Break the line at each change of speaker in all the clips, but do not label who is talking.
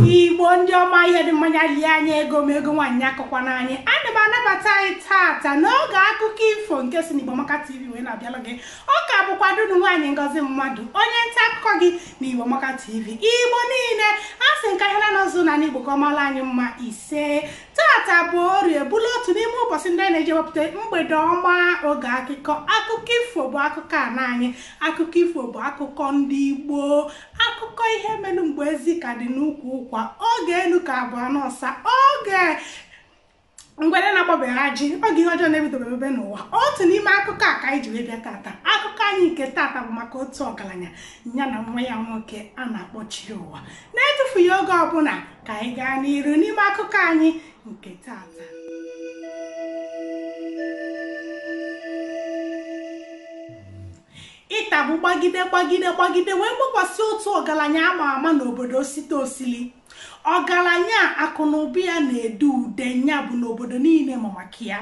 igbo ndị ọma ihe dị mma nya lie anyị ego ma ego nwaanyị akọkwana anyị ana m anabata anyị tata n'oge akụkọ ifo nke si n'igbo maka tv wee na-abịala gị ọ ka bụkwa dunu nwaanyị ngọzi mmadụ onye nta akụkọ gị na igbo maka tv igbo niile a sị nka ya na ụzụ na n'igbo ka ọ mara anyị mma ise tata bụ orie bụlụ otu n'ime ụbọchị ndị a na-eji ewepụta mgbede ọma oge akụkọ akụkọ ifo bụ akụkọ ana anyị akụkọ ifo bụ akụkọ ndị igbo akụkọ ihe melu mgbe ezi ka dị n'ukwu ụkwa oge enu ka bụ ana ọsa oge ngwere na-agbabeghị ajị oge ihe ọjọọ na-ebidobe ebe n'ụwa otu n'ime akụkọ a ka anyị ji wee bịa tata akụkọ anyị nke tata bụ maka otu ọgaranya ya na nwa ya nwoke a na-akpọ Chiụwa na-etufughị oge ọbụla ka anyị gaa n'iru n'ime akụkọ anyị nke tata ịta gba gbagide gbagide gbagide wee gbakwasị otu ọgaranya ama ama n'obodo osite osili ọgaranya akụ na ụba ya na-ede ude nya bụ na obodo niile ma maka ya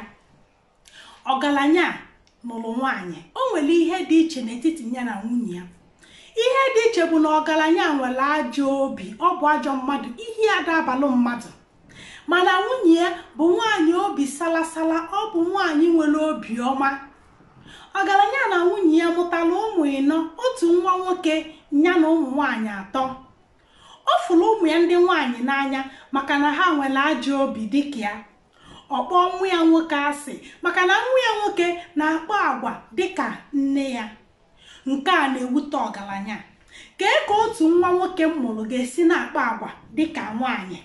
ọgaranya a nụrụ nwaanyị o nwere ihe dị iche n'etiti ya na nwunye ya ihe dị iche bụ na ọgaranya a nwere ajọ obi ọ bụ ajọ mmadụ ihe ya ada abalụ mmadụ mana nwunye ya bụ nwaanyị obi salasala ọ bụ nwaanyị nwere obi ọma ọgaranya a na nwunye ya mụtara ụmụ ịnọ otu nwa nwoke nya na ụmụ nwaanyị atọ ọ fụrụ ụmụ ya ndị nwaanyị n'anya maka na ha nwere ajọ obi dịka ya ọ kpọọ nwa ya nwoke asị maka na nwa ya nwoke na-akpa agwa dịka nne ya nke a na-ewute ọgaranya kee ka otu nwa nwoke m mụrụ ga-esi na-akpa agwa dịka nwaanyị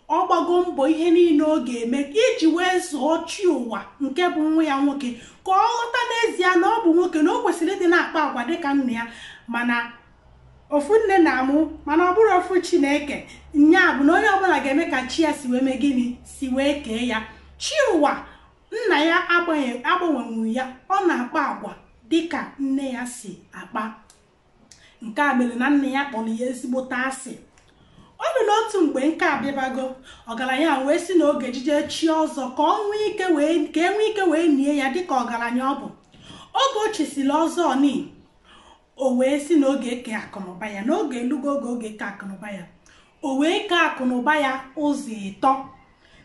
ọ gbago mbọ ihe niile ọ ga-eme iji wee zụọ Chiụwa nke bụ nwa ya nwoke ka ọ ghọta n'ezie na ọ bụ nwoke na o kwesịrị ịdị na-akpa agwa dịka nna ya mana ofu nne na-amụ mana ọ bụrọ ofu chi na-eke nya bụ na onye ọbụla ga-eme ka chi ya si wee mee gịnị si wee kee ya Chiụwa nna ya agbanwenwuro ya ọ na-akpa agwa dịka nne ya si akpa nke a mere na nna ya kpọrọ ya ezigbote asị ọ dị n'otu mgbe nka abịabago ọgaranya wee sị na ọ ga-ejeje chie ọzọ ka e nwee ike wee nie ya dịka ọgaranya ọ bụ oge o chisiri ọzọ ni o wee sị na ọ ga-eke akụnụba ya na oge elugo oge ọ ga-eke akụnụba ya o wee kee akụnụba ya ụzọ ịtọ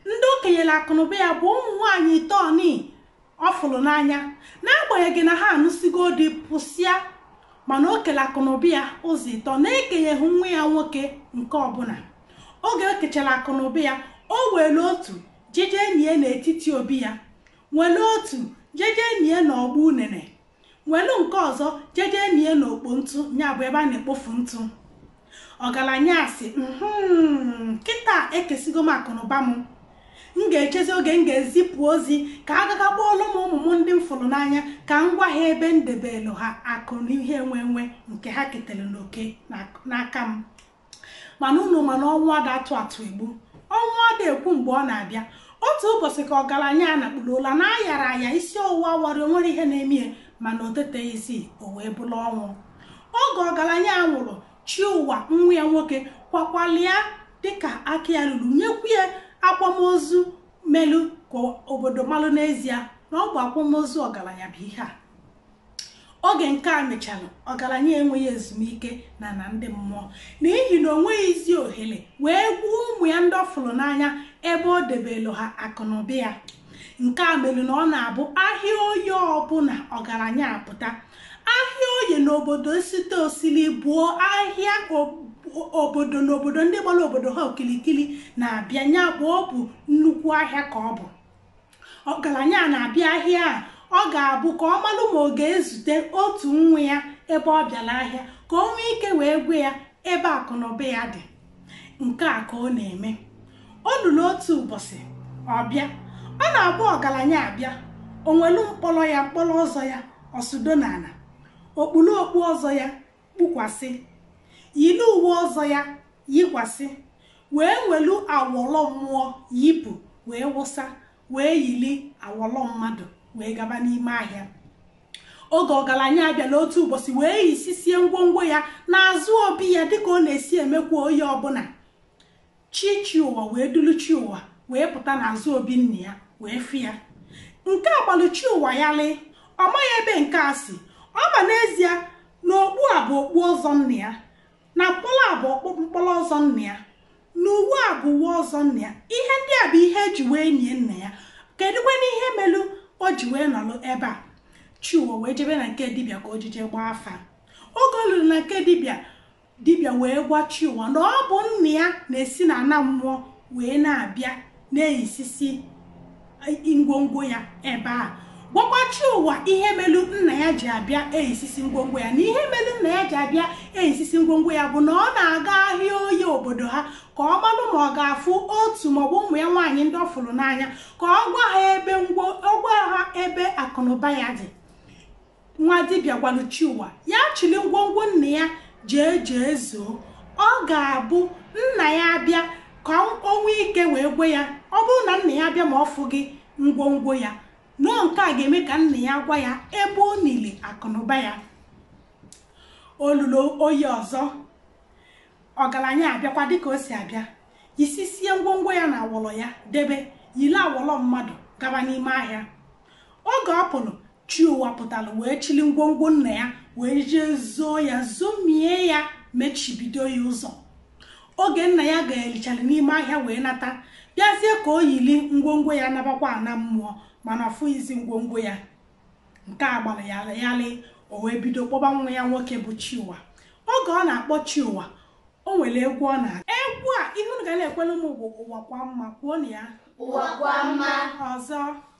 ndị o kenyere akụnụba ya bụ ụmụ nwaanyị ịtọ ni ọ fụrụ n'anya n'agbanyeghị na ha anụsigo di pụsịa mana o kele akụnụba ya ụzọ ịtọ na-ekenyeghị nwa ya nwoke nke ọbụla oge o kechara akụnụba ya o were otu jeje nie n'etiti obi ya were otu jeje nie n'ọgba unene welu nke ọzọ jeje nie n'okpo ntụ nya bụ ebe a na-ekpofu ntụ ọgaranya asị hmm, kịta ekesigo m akụnụba m m ga-echezi oge m ga-ezipụ ozi ka a gaga kpọọlụ m ụmụ m ndị m fụrụ n'anya ka m gwa ha ebe m debelu ha akụ na ihe enwe enwe nke ha ketere n'oke n'aka m mana unu ma na ọnwụ ada atụ atụ egbu ọnwụ ada ekwu mgbe ọ na-abịa otu ụbọsị ka ọgaranya a nakpuru ụla na ayara aya isi ọwụwa awara o nwere ihe na-eme ya mana o teteghịzi o wee bụrụ ọnwụ oge ọgaranya a nwụrụ Chiụwa nwa ya nwoke kwakwalia dịka aka ya ruru nyekwu ya akwamozu melu ka obodo malụ n'ezie na ọ bụ akwamozu ọgaranya bụ ihe a oge nke a mechara ọgaranya enweghị ezumike na ana ndị mmụọ n'ihi na o nweghịzi ohere wee gwa ụmụ ya ndị ọ fụrụ n'anya ebe o debelu ha akụnụba ya nke a mere na ọ na-abụ ahịa oye ọbụla ọgaranya apụta ahịa oye n'obodo site osili bụ ahịa obodo n'obodo ndị gbara obodo ha okilikili na-abịa nya bụ ọ bụ nnukwu ahịa ka ọ bụ ọgaranya a na-abịa ahịa a ọ ga-abụ ka ọ malụ ma ọ ga-ezute otu nwa ya ebe ọ bịara ahịa ka o nwee ike wee gwa ya ebe akụnụba ya dị nke a ka ọ na-eme o luru otu ụbọsị ọ bịa ọ na-abụ ọgaranya abịa o nwelu mkpọrọ ya mkpọrọ ọzọ ya ọ sụdo n'ana o kpuru okpu ọzọ ya kpukwasị yiri uwe ọzọ ya yikwasị wee nwelu awọlọ mmụọ yipụ wee wụsa wee yiri awọlọ mmadụ wee gaba n'ime ahịa oge ọgaranya a bịalụ otu ụbọsị wee yisisie ngwongwo ya n'azụ obi ya dịka ọ na-esi emekwa oye ọbụla chi Chiụwa wee dulu Chiụwa wee pụta n'azụ obi nna ya wee fụ ya nke a gbalụ Chiụwa ghalịị ọ maghị ebe nke a si ọ ma n'ezie na okpu a bụ okpu ọzọ nna ya na mkpọrọ a bụ ọkpụ- mkpọrọ ọzọ nna ya na uwe a bụ uwe ọzọ nna ya ihe ndị a bụ ihe e ji wee nie nna ya kedụkwanụ ihe melu o ji wee nọrọ ebe a Chiụwa wee jebe na nke dibịa ka o jije gbaa afa oge o luru na nke dibịa dibịa wee gwa Chiụwa na ọ bụ nna ya na-esi na ana mmụọ wee na-abịa na-eyisisi ngwongwo ya ebe a gwakwa Chiụwa ihe melu nna ya ji abịa eyisisi ngwongwo ya na ihe melu nna ya ji abịa eyisisi ngwongwo ya bụ na ọ na-aga ahịa oye obodo ha ka ọ malụ ma ọ ga-afụ otu maọbụ ụmụ ya nwaanyị ndị ọ fụrụ n'anya ka ọ gwa ha ebe ngwo ọ gwa ha ebe akụnụba ya dị nwa dibịa gwara Chiụwa ya chili ngwongwo nna ya jee jee zoo ọ ga-abụ nna ya abịa ka o nwee ike wee gwe ya ọ bụrụ na nna ya abịa ma ọ fụghị ngwongwo ya na nke a ga-eme ka nna ya gwa ya ebe o nili akụnụba ya o lulo Oye ọzọ ọgaranya abịakwa dịka o si abịa yisisie ngwongwo ya na awọlọ ya debe yili awọlọ mmadụ gaba n'ime ahịa oge ọ pụrụ Chiụwa pụtara wee chili ngwongwo nna ya wee jee zoo ya zomie ya mechibido ya ụzọ oge nna ya gayalịchara n'ime ahịa wee nata bịazie ka o yili ngwongwo ya nabakwa ana mmụọ mana ọ fụghịzi ngwongwo ya nke a gbara ya yalị o wee bido kpọba nwa ya nwoke bụ Chiụwa oge ọ na-akpọ Chiụwa o nwere egwu ọ na egwu a ihe unu ga na-ekwelu m bụ ụwa kwa mma kwuonụ ya Ụwa kwa mma.
ọzọ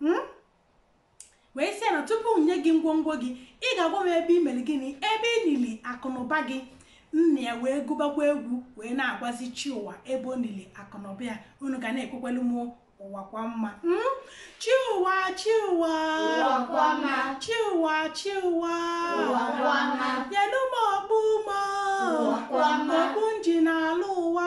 hmm? wee sị ya na tupu m nye gị ngwongwo gị ị ga-agwa m ebe i mere gịnị ebe ị nili akụnụba gị nna ya wee gụbakwa egwu wee na-agwazi Chiụwa ebe o nili akụnụba ya unu ga na-ekwekwelu m ụwa kwa mma hmm? Chiụwa Chiụwa
Chiụwa
Chiụwa
nyenụ m okpu
m
okpu m ji na-ala
ụwa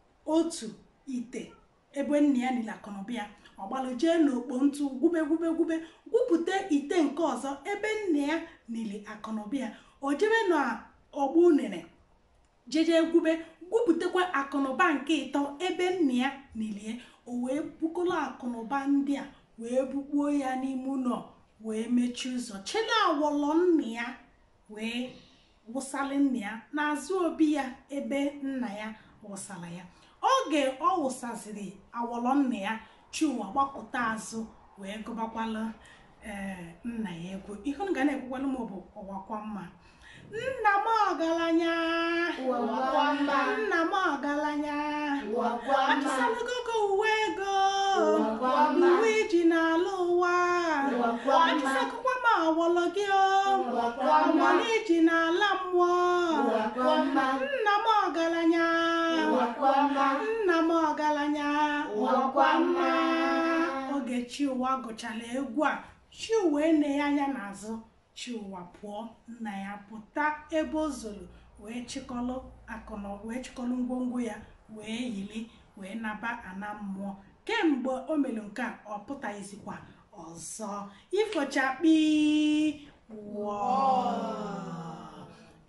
otu ite ebe nna ya nili akụnụba ya ọ gbalụ jee n'okpo ntụ gwube gwube gwube gwupụta ite nke ọzọ ebe nna ya nili akụnụba ya o jebe na ogbo unene jeje gwube gwupụtakwa akụnụba nke ịtọ ebe nna ya nili o wee bukọrọ akụnụba ndị a wee bukpuo ya n'ime ụnọ wee mechie ụzọ chili awọlọ nna ya wee wụsara nna ya n'azụ obi ya ebe nna ya wụsara ya oge ọ wụsaziri awọlọ nna ya Chiụwa gbakụta azụ wee gụbakwala ee nna ya egwu ihe unu ga na-ekwekwala m bụ ụwa kwa mma nna m ọgaranya Ụwa
kwa mma. nna m
ọgaranya Ụwa
kwa mma. atụsalụgo gị uwe
gị o Ụwa
kwa mma. uwe i ji na-ala
ụwa Ụwa kwa mma.
Atụsago
awọlọ gị
ọma i ji
na-ala
mmụọ nna m ọgaranya nna m
ọgaranya oge Chiụwa gụchara egwu a Chiụwa eneghị anya n'azụ Chiụwa pụọ nna ya pụta ebe o zoro wee chịkọlụ akụnụ wee chịkọlụ ngwongwo ya wee yili wee naba ana mmụọ kemgbe o mere nke a ọ pụtaghịzikwa ọzọ ifo chakpii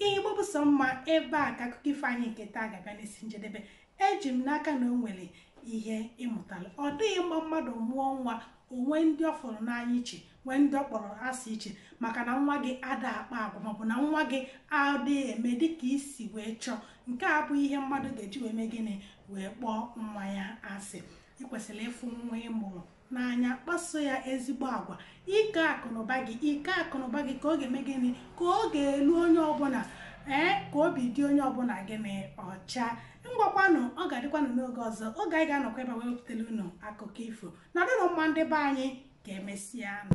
igbo bụ sọ mma ebe a ka akụkọ ifo anyị nke taa ga-abịa n'isi njedebe eji m n'aka na o nwere ihe ị mụtala ọ dịghị mma mmadụ mụọ nwa o nwee ndị ọ fụrụ n'anya iche nwee ndị ọ kpọrọ asị iche maka na nwa gị ada akpa agwa maọbụ na nwa gị ada eme dịka i si wee chọọ nke a bụ ihe mmadụ ga-eji wee mee gịnị wee kpọọ nwa ya asị i kwesịrị ịfụ nwa ị mụrụ n'anya kpaso ya ezigbo agwa ike akụnụba gị ike akụnụba gị ka ọ ga-eme gịnị ka ọ ga-elu onye ọbụla ee ka obi dị onye ọbụla gịnị ọcha ngwakwanụ ọ ga-adịkwanụ n'oge ọzọ oge anyị ga-anọkwa ebe a wee wepụtara unu akụkọ ifo nọdụnụ mma ndị be anyị ka emesịa nụ